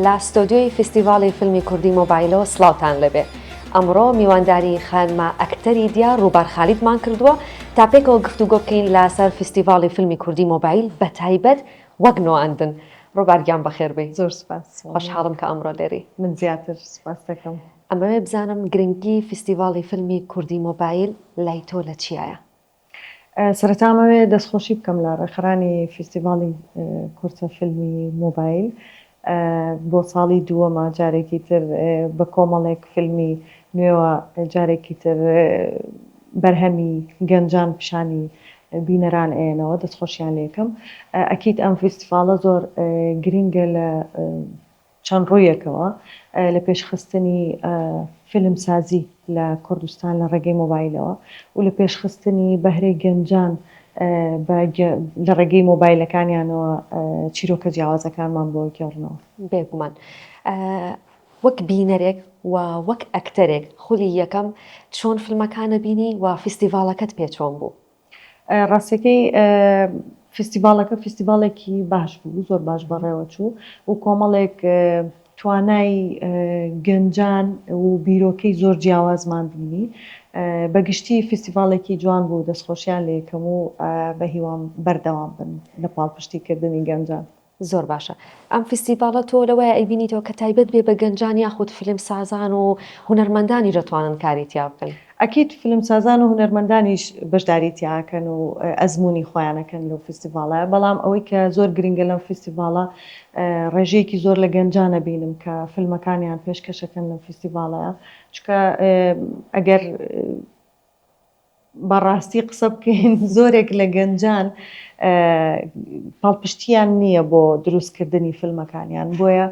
لە ستۆدیۆی فیستیڤاڵی فیلمی کوردی مۆبایلەوە سڵاوتان لەبێ ئەمڕۆ میوانداری خانمە ئەکتەری دیار ڕووبار خالیدمان کردووە تا پێکەوە گفتوگۆ بکەین لەسەر فیستیڤاڵی فیلمی کوردی مۆبایل بە تایبەت وەک نواندن ڕووبار گیان بەخێر بێی زۆر سوپاس خۆشحاڵم کە ئەمڕۆ لێرەی من زیاتر سوپاستەکەم ئەمەوێ بزانم گرنگی فیستیڤاڵی فیلمی کوردی مۆبایل لای تۆ لە چیایە؟ سەرەتا ئەمەوێ دەستخۆشی بکەم لە ڕێکخەرانی فیستیڤاڵی کورتە فیلمی مۆبایل بۆ ساڵی دووەمە جارێکی تر بە کۆمەڵێک فیلمی نوێوە جارێکی تر بەرهەمی گەنجان پیشانی بینەران ئەیەنەوە دەستخۆشیان لێکم ئەکییت ئەم فیستیڤاڵە زۆر گرینگە لە چەند ڕوویەکەوە لە پێشخستنی فیلمسازی لە کوردستان لە ڕێگەی مۆبایلەوە و لە پێشخستنی بەهرەی گەنجان بە لە ڕێگەی مۆبایلەکانیانەوە چیرۆکە جیاوازەکانمان بۆ گێڕنەوە. بێگومان وەک بینەرێک و وەک ئەکتەرێک خولی یەکەم چۆن فیلمەکانت بینی و فیستیڤاڵەکەت پێ چۆن بوو؟ ڕاستیەکەی فیستیڤاڵەکە فیستیڤاڵێکی باش بوو زۆر باش بەڕێوەچوو و کۆمەڵێک توانای گەنجان و بیرۆکەی زۆر جیاوازمان بینی بەگشتی فیستیڤاڵێکی جوان بوو دەستخۆشیان لە یەکەم و بە هیوام بەردەوام بن لە پاڵپشتیکردنی گەنجان. زۆر باشە ئەم فیستیڤاڵە تۆ لەوەیە ئەیبینیتەوە کە تایبەت بێ بە گەنجان یاخود فیلمسازان و هونەرمەندانیش دەتوانن کاری تیا بکەن؟ ئەکید فیلمسازان و هونەرمەندانیش بەشداری تیا ئەکەن و ئەزموونی خۆیان ئەکەن لەو فیستیڤاڵە بەڵام ئەوەی کە زۆر گرینگە لەم فیستیڤاڵە ڕێژەیەکی زۆر لە گەنجان ئەبینم کە فیلمەکانیان پێشکەش ئەکەن لەم فیستیڤاڵە چونکە ئەگەر بەڕاستی قسە بکەین زۆرێک لە گەنجان پاڵپشتیان نییە بۆ دروستکردنی فیلمەکانیان بۆیە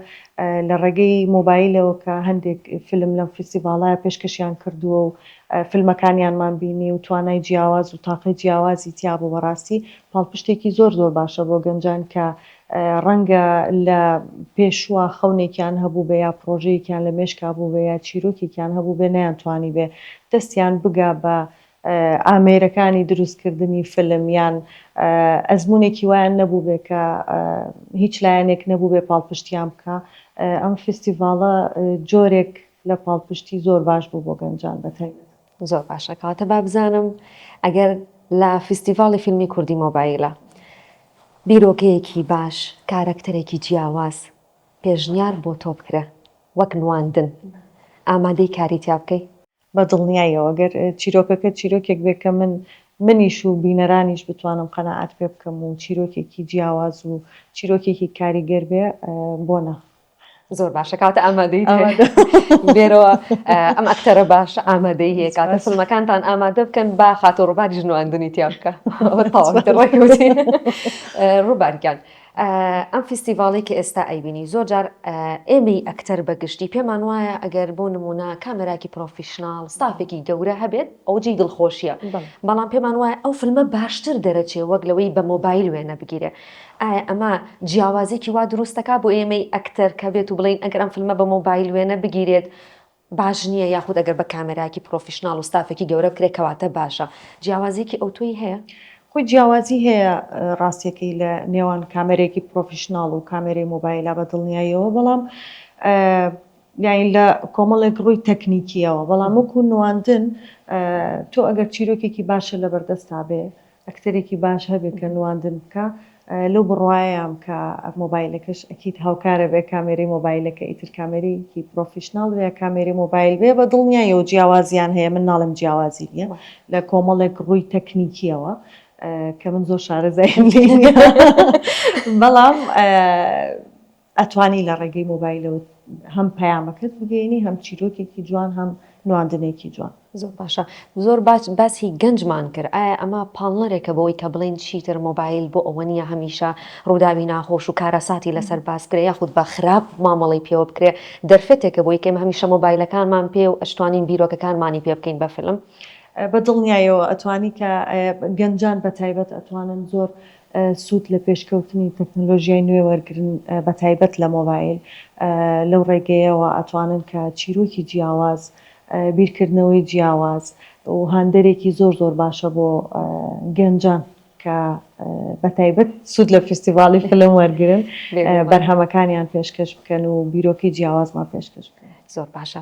لە ڕێگەی مۆبایلەوە کە هەندێک فیلم لەم فیستیڤاڵە پێشکەشیان کردووە و فیلمەکانیانمان بینی و توانای جیاواز و تاقەی جیاوازی تیابوو بەڕاستی پاڵپشتێکی زۆر زۆر باشە بۆ گەنجان کە ڕەنگە لە پێشوە خەونێکیان هەبووبێ یا پڕۆژەیەکیان لە مێشکا بووبێ یا چیرۆکێکیان هەبووبێ نەیانتوانیبێ دەستیان بگا بە ئامێرەکانی دروستکردنی فیلم یان ئەزموونێکی وایان نەبووبێ کە هیچ لایەنێک نەبووبێ پاڵپشتیان بکا. ئەم فیستیڤاڵە جۆرێک لە پاڵپشتی زۆر باش بوو بۆ گەنجان بە تایبەتی. زۆر باشە کەواتە با بزانم ئەگەر لە فیستیڤاڵی فیلمی کوردی مۆبایلە بیرۆکەیەکی باش کارەکتەرێکی جیاواز پێشنیار بۆ تۆ بکرێ وەک نواندن ئامادەی کاری تیا بکەی؟ بە دڵنیایەوە گەر چیرۆکەکە چیرۆکێک بێ کە من منیش و بینەرانیش بتوانم قەناعەت پێ بکەم و چیرۆکێکی جیاواز و چیرۆکێکی کاریگەر بێ بۆ نا؟ زۆر باشە کاتە ئامادەی بێرەوە ئەم ئەکتەرە باش ئامادەی هەیە کاتە فلمەکانتان ئامادە بکەن با خاتۆ ڕووباری ژنواندنی تیا بکە ڕووبارگیان ئەم فیستیڤاڵی کە ئێستا ئەیبینی زۆر جار ئێمەی ئەکتەر بەگشتی پێمان وایە ئەگەر بۆ نمونە کامێراکی پرۆفیشنناڵ ستافێکی گەورە هەبێت ئەوجی دڵخۆشیە بەڵام پێمان وایە ئەو فلمە باشتر دەرەچێ وەک لەوەی بە مۆبایل وێنە بگیرێ ئایا ئەمە جیاوازیەکی وا دروست دەکات بۆ ئێمەی ئەکتەر کە بێت و بڵێین ئەگەر ئەم فلمە بە مۆبایل وێنە بگیرێت باش نییە یاخود ئەگەر بە کامێرایەکی پرۆفیشناڵ و ستافێکی گەورە بکرێت کەواتە باشە جیاوازیەکی ئەوتۆی هەیە؟ خۆی جیاوازی هەیە ڕاستیەکەی لە نێوان کامێرەیەکی پرۆفیشناڵ و کامێرەی مۆبایلا بە دڵنیاییەوە بەڵام یانی لە کۆمەڵێک ڕووی تەکنیکیەوە بەڵام وەکو نواندن تۆ ئەگەر چیرۆکێکی باشە لەبەردەستا بێ ئەکتەرێکی باش هەبێ کە نواندن بکا لەو بڕوایەیام کە مۆبایلەکەش ئەکید هاوکارە بێ کامێرەی مۆبایلەکە ئیتر کامێرەیەکی پڕۆفیشناڵ بێ یا کامێرەی مۆبایل بێ بە دڵنیایەوە جیاوازیان هەیە من ناڵێم جیاوازی نیە لە کۆمەڵێک ڕووی تەکنیکیەوە کە من زۆر شارەزای نیم بەڵام ئەتوانی لە ڕێگەی مۆبایلەوە هەم پەیامەکەت بگەیەنی هەم چیرۆکێکی جوان هەم نواندنێکی جوان. زۆر باشە زۆر باش باسی گەنجمان کرد ئایا ئەمە پاڵنەرێکە بۆوەی کە بڵێین چیتر مۆبایل بۆ ئەوە نییە هەمیشە ڕووداوی ناخۆش و کارەساتی لەسەر باس بکرێ یاخود بە خراپ مامەڵەی پێوە بکرێ دەرفەتێکە بۆی کە ئێمە هەمیشە مۆبایلەکانمان پێیە و ئەشتوانین بیرۆکەکانمانی پێ بکەین بە فیلم؟ بە دڵنیایەوە ئەتوانی کە گەنجان بە تایبەت ئەتوانن زۆر سوود لە پێشکەوتنی تەکنەلۆژیای نوێ وەرگرن بە تایبەت لە مۆبایل، لەو ڕێگەیەوە ئەتوانن کە چیرۆکی جیاواز، بیرکردنەوەی جیاواز و هاندەرێکی زۆر زۆر باشە بۆ گەنجان کە بە تایبەت سوود لە فیستیڤاڵی فیلم وەرگرن بەرهەمەکانیان پێشکەش بکەن و بیرۆکەی جیاوازمان پێشکەش بکەن. زۆر باشە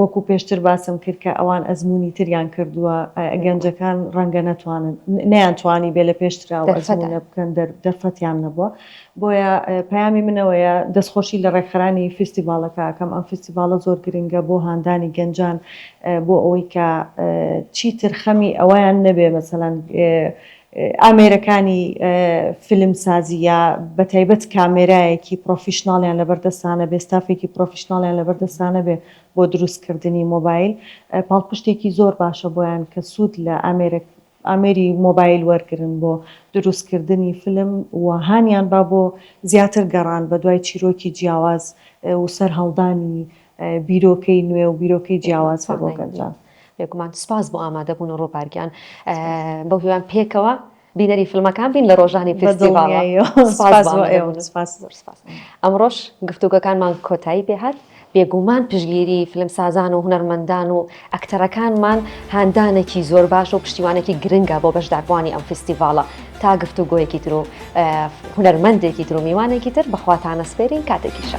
وەکو پێشتر باسم کرد کە ئەوان ئەزموونی تریان کردووە، گەنجەکان ڕەنگە نەتوانن، نەیانتوانیبێ لە پێشترەوە ئەزموونە بکەن، دەرفەتیان نەبووە، بۆیە پەیامی من ئەوەیە دەستخۆشی لە ڕێکخەرانی فیستیڤاڵەکە ئەکەم، ئەم فیستیڤاڵە زۆر گرنگە بۆ هاندانی گەنجان بۆ ئەوەی کە چیتر خەمی ئەوەیان نەبێ مەسەلەن ئامێرەکانی فیلم سازی یا بە تایبەت کامێرایەکی پڕۆفیشناڵیان لەبەر دەستانە بێ ستافێکی پڕۆفیشناڵیان لەبەر دەستانە بێ بۆ دروست کردنی مۆبایل پاڵپشتێکی زۆر باشە بۆیان کە سوود لە ئامێرە ئامێری مۆبایل وەرگرن بۆ دروست کردنی فیلم و هانیان با بۆ زیاتر گەڕان بە دوای چیرۆکی جیاواز و سەرهەڵدانی بیرۆکەی نوێ و بیرۆکەی جیاواز هەیە بۆ گەنجان. بێگومان سپاس بۆ ئامادە بوون و ڕووبار گیان بەو هیوام پێکەوە بینەری فیلمەکان بین لە ڕۆژانی فیستیڤاڵ سپاس بۆ ئێوە سپاس زۆر سپاس ئەمڕۆش گفتوگۆکانمان کۆتایی پێ هات بێگومان پشگیری فیلمسازان و هونەرمەندان و ئەکتەرەکانمان هاندانێکی زۆر باشە و پشتیوانێکی گرنگە بۆ بەشداربووانی ئەم فیستیڤاڵە تا گفتوگۆیەکی تر و هونەرمەندێکی تر و میوانێکی تر بەخواتانە سپێرین کاتێکی شە.